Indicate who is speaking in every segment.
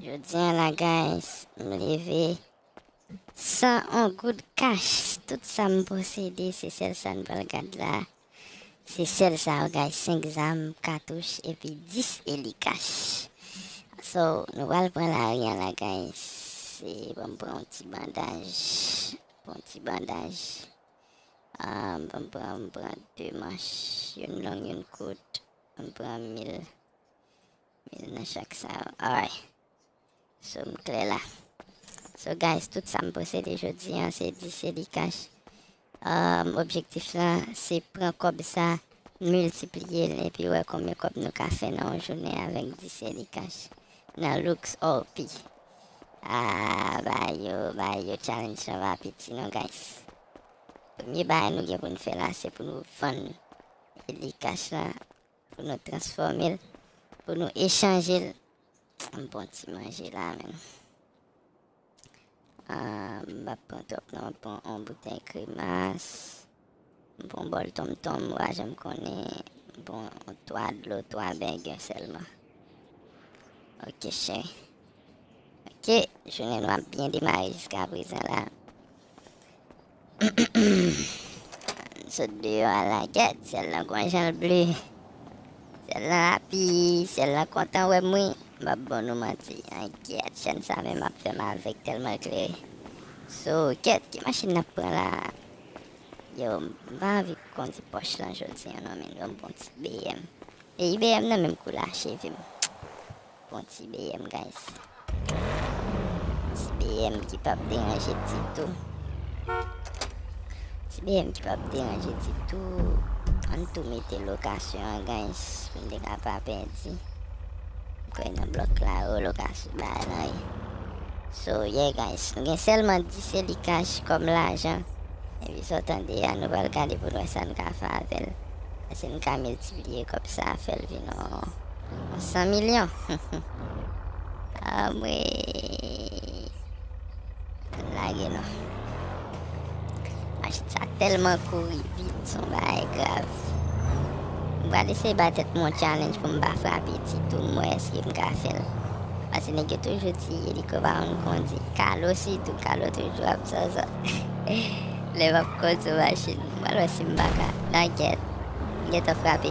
Speaker 1: Jodia la guys m leve San on goud kach tout sam posede se sèl sa n pral gad la se sèl sa yo guys 5 zam katouch epi 10 eli kach so nou pral pran lari an la guys se banm pran on ti bandaj bon ti bandaj um, banm pran m pran 2 manch youn long youn kout banm pran mil Mil nan chak sa yo ay. So m klè la. So guys tout sa m posede jodi an se di se li cash. Um, objektif lan se pran kòb sa miltipliye l epi wè konbyen kòb nou ka fè nan yon jounen avèk di se li cash nan Lux All P. Ah, ba yo, ba yo challenge lan va piti non guys. Premye bagay nou gen pou n fè la se pou nou vann li cash lan Pou nou transfòme l. Pou nou echanje l. M pran ti manje la menn. M pa pran twòp non. M pran yon boutèy kremas. M pran yon bòl tonmtonm m pa janm konnen. M pran 3 dlo, 3 bengen sèlman. Ok cheri. Ok, jounen nou ap byen demare jiska prezan la. Sot deyò a la gèt syèl lan gwan janl ble syèl lan api syèl lan kontan wèm wi mbap bon nou manti an gèt chèn sa menm ap fèm avèg tèlman l klere so gèt ki machin nap pran la yo mpa anvi kondi pòch lan jodi an non min banm pran ti bm e ibm nan menm kou la chevem. Bon ti BM guys. Ti BM ki pap deranje ditou. Ti BM ki pap deranje ditou. An tou mete lokasyon an guys. Mwen de ka pa pedi. Kwe nan blok la yo lokasyon ba nan yi. So yeah guys. Nou gen selman 10 eli cash kom lajan. E vi so tande ya nou bal gade pou nou esan ka fa avel. Ese nou ka miltipliye kom sa afel vi nou. 100 milyon Anmweyy Pap lage non Machin sa telman kouri vit son bagay grav M pral eseye bay tèt mwen yon challenge pou m pa frape ti tou m wè eske m ka fè l Pase nèg yo toujou di eliko pa konn kondi Kalo sitou Kalo toujou ap zòzò Lè m ap kondi yon machin M pral wè si m pa ka Nan gèt M gentan frape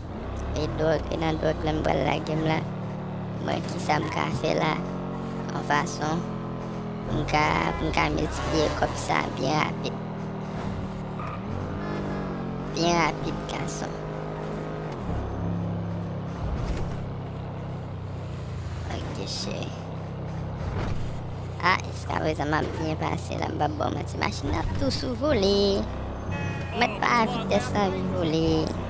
Speaker 1: e dwòg e nan dwòg menm pral lage m la mwen kisa m ka fè la yon fason pou m ka pou m ka miltipliye kòb sa byen rapid byen rapid gason ok cheri a jiskaprezan m ap byen pase la m pap ba w manti machin nan ap tou sou vole mèt pa a vitès lan li vole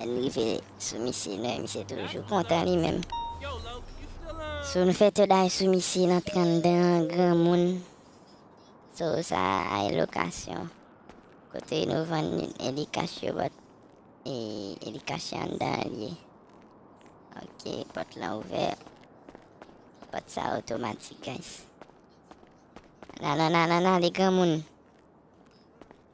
Speaker 1: Lèm rive sou misye nèg misye toujou kontan li menm. So nou fè third eye sou misye nan 32 an granmoun. So sa ay lokasyon. Kote nou vann e li kach yo bòt. E, e li kache anndan li ye. Ok, pòt lan ouvè. Pòt sa otomatik guys. Nan nan nan nan nan li granmoun.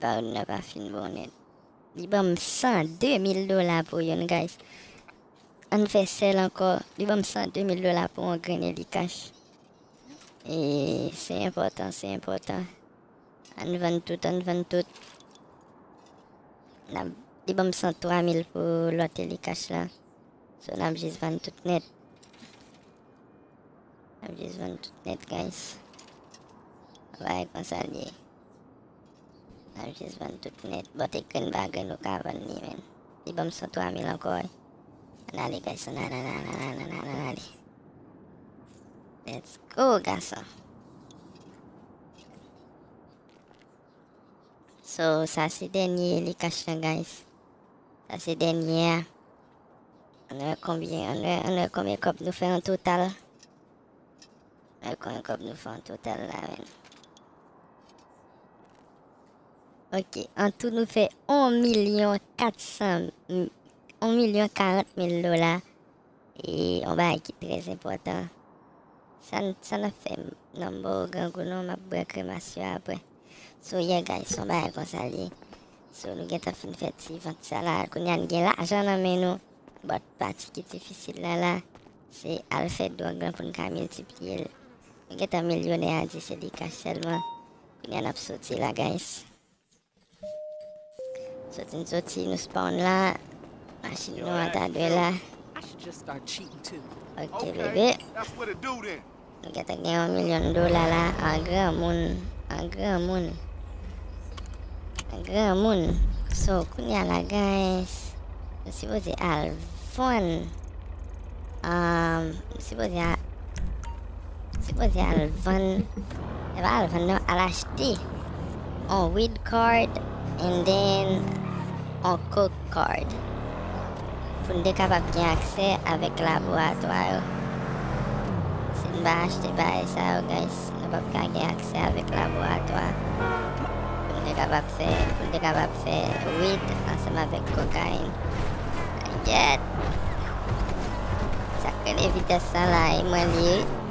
Speaker 1: Baron nan pa fin bon nèt. Li banm 102 mil dola pou youn guys. Ann fè sèl ankò. Li banm 102 mil dola pou yon grenn eli kach. E se enpòtan, se enpòtan. Ann vann tout, ann vann tout. Nap, li banm 103 mil pou lòt eli kach la. So nap jis vann tout nèt. Nap jis vann tout nèt guys. Vay konsa liye. Nap jis vann tout nèt. Bon te grenn pa grenn nou ka vann li menn. Li banm 103 mil ankò wi. Ann ale guys ann ale ann ale ann ale ann ale ann ale. Let's go gason. So sa se dènye li kach lan guys. Sa se dènye a. An wè konbyen an wè an wè konbyen kòb nou fè an total. Al konn kòb nou fè an total la menm. Ok, an tou nou fè 1 milyon 400 1 milyon 40 mil dola e an ba ki trèz enpòtan. San san ap fè nan mbo grangou non map bwa kremas yo apre. So yè yeah, guys, son ba kon sa li. So nou gen tan fin fè ti vant sa la, koun yan gen lajan nan men nou. Bòt pati ki difisil la la. Se al fè dwòg lan pou n ka miltipliye l. Nou gentan milyonè a di se li kach sèlman. Kounya n ap soti la guys. Soti n soti nou spawn la. Machin nou an ta dwe la. Ok bebe. Nou gentan gen yon milyon dola la an granmoun, an granmoun, an granmoun. So kounya la guys, m sipoze al vann, um, m sipoze al, m sipoze al vann, e pa al vann non, al achte on weed card and then on coke card. Pou n te kapab gen aksè avèk laboratwa yo. Si n pa achte parèy sa yo guys, nou pap ka gen aksè avèk laboratwa pou n te kapab fè, pou n te kapab fè weed ansanm avèk kokayin. Gèt! Sa k rele vitès sa la e mwen li wi.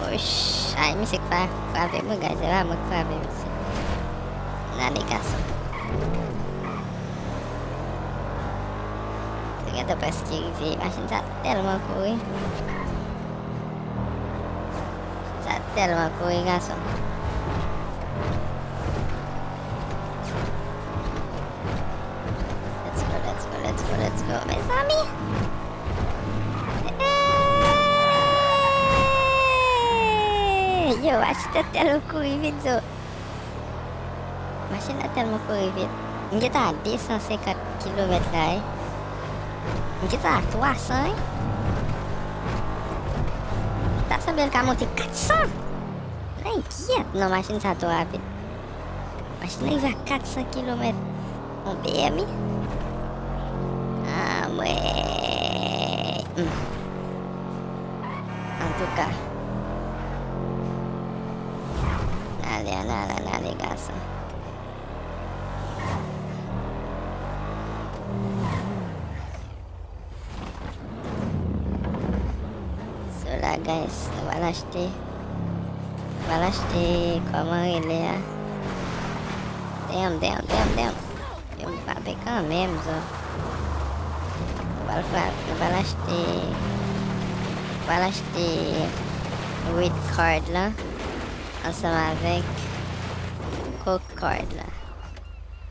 Speaker 1: Wouchayy misye k frape mwen guys epa mwen k frape misye nane gason mwen gentan preske rive machin sa telman kouri machin sa telman kouri gason. Let's go, let's go, let's go, let's go, mes amis. Yo, achete tel ou kouri vit zo. Machin la telman kouri vit. M gen ta 250 km la e. M gen ta 300 e. Ta sanbel ka monte 400. Nan inkyet nan machin sa to rapid. Machin nan rive a 400 kilomèt on pmi Anmweyy Antouka N ale an ale an ale gason So la guys, nou va lachte. Nou va lachte koman rele a. Damn, damn, damn, damn. Yo m frape kan menm zo. Nou va frape, nou va lachte. Nou va lachte red card la. Ansanm avèk coke card la.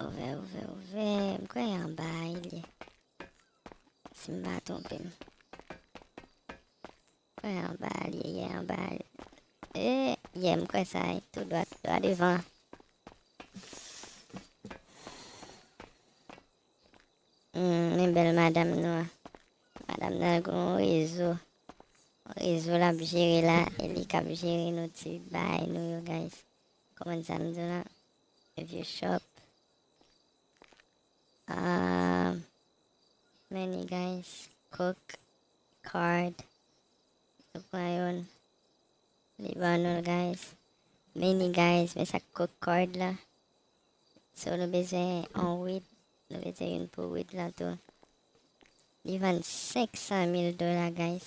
Speaker 1: Ouvè ouvè ouvè M kwè y anba a li ye Si m pa twonpe m M kwè y anba a li ye anba a li ye E ye m kwè sa ye tou dwat dwa devan Men bèl madam nou an Madam nan gen yon rezo Yon rezo l ap jere la E li k ap jere nou ti bagay nou yo guys Komand sa m di w lan e vye chòp. Aah many guys cook card nou pran yon li ban nou l guys. Many guys men sa cook card la. So nou bezwen an wid, nou bezwen yon pou wid lan tou. Li vann 500 mil dola guys.